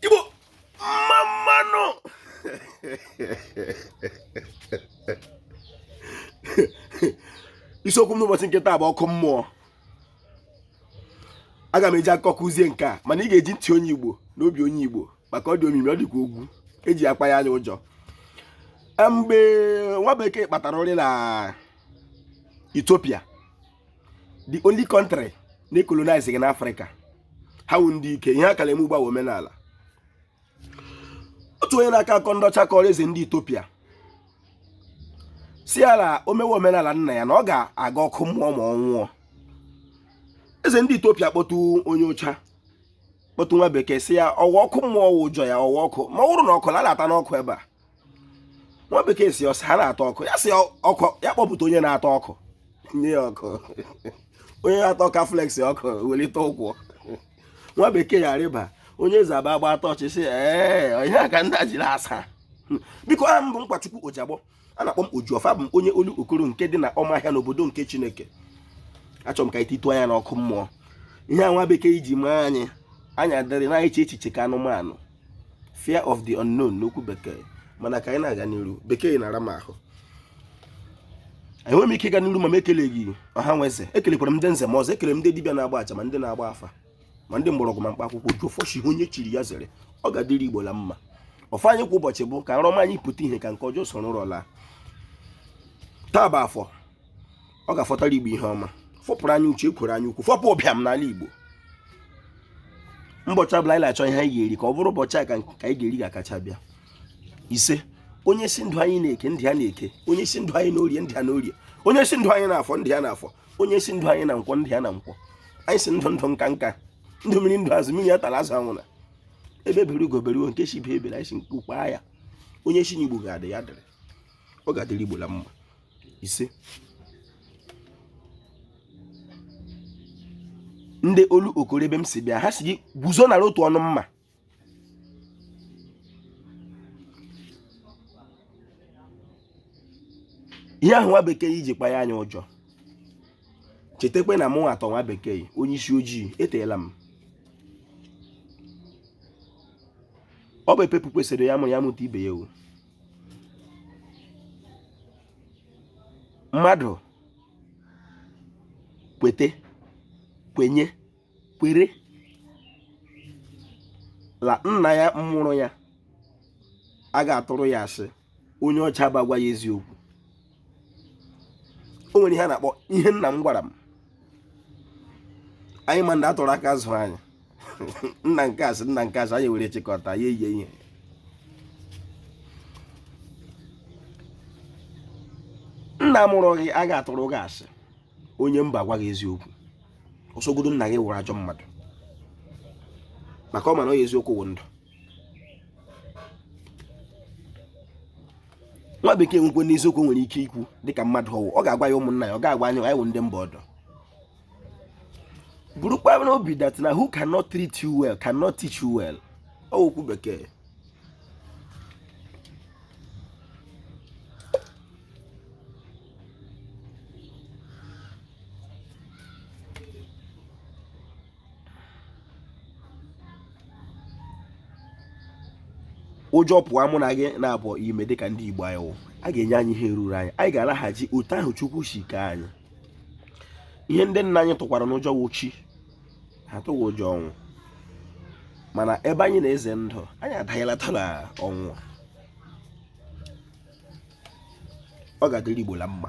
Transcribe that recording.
igbo mma mma nụ isiokwu m n'ụbọchị nke taa bụ ọkụ mmụọ aga m eji akọ kụzie nke a mana ị ga-eji ntị onye igbo na obi onye igbo maka ọ dị omimi ọ dịkwa ogwu eji akpa ya anyị ụjọ mgbe nwa bekee kpatara ụrị na Ethiopia the only country na ecolonizeghị n'afrịka ha wụ ndị ike ihe a ka la-eme ugbu a wụ omenala otu onye na-akọ akọ ndị ọcha kọrọ eze ndị etopia si ya la o mewe omenala nna ya na ọ ga-aga ọkụ mmụọ ma ọ nwụọ eze ndị etopia kpọtụ onye ọcha kpọtụ nwa bekee si ya ọ wụ ọkụ mmụọ wụ ụjọ ya ọ wụ ọkụ ma ọ wụrụ nụ ọkụ la a la-ata nụ ọkụ ebe a nwa bekee si ọ sị ha na-ata ọkụ ya si ọkụ ya kpọpụta onye na-ata ọkụ nye ya ọkụ onye na-ata ọkụ a flex ọkụ welite ụkwụ nwa bekee ya rịba onye eze aba agba atọ ọchị si ee onye aka ndị jiri asa biko aha m bụ nkwachukwu ojiagbọ a na-akpọ m ojiọfọ abụ m onye olokoro nke dị na ọmahịa n'obodo nke chineke achọrọ m ka anyị titụọ anya n'ọkụ mmụọ ihe a nwa bekee ji maa anyị anyị adịrị na-eche echiche ka anụmanụ fear of the unknown n'okwu bekee mana ka anyị na-aga n'iru bekee na-ara m ahụ enweghị m ike ịga n'iru ma m ekeleghị ọha nwe eze ekelekwara m ndị nze ma ọzọ ekele m ndị dibịa na-agba aja ma ndị na-agba afa ma ndị mgbọrọgwụ ma mkpa akwụkwọ ojiọfọ si ihe onye chiri ya zere ọ ga-adịrị igbo la mma ọfọ anyị kwa ụbọchị bụ ka nrọ ọma anyị pụta ihe ka nke ọjọọ soro ụra laa taa bụ afọ ọ ga-afọtara igbo ihe ọma fọpụrụ anyị uchu ekworo anya ukwu fọpụ ụbịam n'ala igbo mbọchị ọbụla anyị na-achọ ihe anyị ga-eri ka ọ bụrụ ụbọchị a ka anyị ga-eri ga-akacha bịa ise onye si ndụ anyị na eke ndụ ya na eke onye si ndụ anyị na orie ndụ ya na orie onye si ndụ anyị na afọ ndụ ya na afọ onye si ndụ anyị na nkwọ ndụ ya na nkwọ anyị si ndụ ndụ nka nka ndụ mmiri ndụ azụ mmiri atala azụ anwụna egbe bere ugo bere nke si ibe ya ebela anyị si nku kwaa ya onye si na igbo ga-adị ya dịrị ọ ga-adịrị igbo la mma ise ndị olokoro ebe m si bịa ha si gị guzo nara otu ọnụ mma ihe ahụ nwa bekee ji kpa ya anyị ụjọ chetakwa na mụ atọ nwa bekee onye isi ojii eteela m ọ bụ epepu kwesịrị ya mụ ya mụta ibe ya o mmadụ kwete kwenye kwere la nna ya mụrụ ya a ga-atụrụ ya asị onye ọcha bịa gwa ya eziokwu o nwere ihe a na-akpọ ihe nna m gwara m anyị ma ndị atụrụ aka zụrụ anyị nna nke a sị nna nke a sị anyị were chịkọta ya eyie ihe nna mụrụ gị a ga-atụrụ gị asị onye mba gwa gị eziokwu ọ sọgodu nna gị wụrụ ajọ mmadụ maka ọ ma na ọ ya eziokwu wụ ndụ nwa bekee nwekwe n'eziokwu nwere ike ikwu dịka mmadụ ọ wụ ọ ga-agwa ya ụmụnna ya ọ ga-agwa anyị anyị wụ ndị mba ọdọ burukwa n'obi that na who cannot treat you well cannot teach you well okwu bekee ụjọ pụọ mụ na gị n'obi ime dịka ndị Igbo anyị wụ a ga-enye anyị ihe ruru anyị anyị ga-alaghachi otu ahụ Chukwu si kee anyị ihe ndị nna anyị tụkwaranụ ụjọ wụ chi ha tụghị ụjọ ọnwụ mana ebe anyị na-eze ndụ anyị adanyelata na ọnwụ ọ ga-adịrị Igbo la mma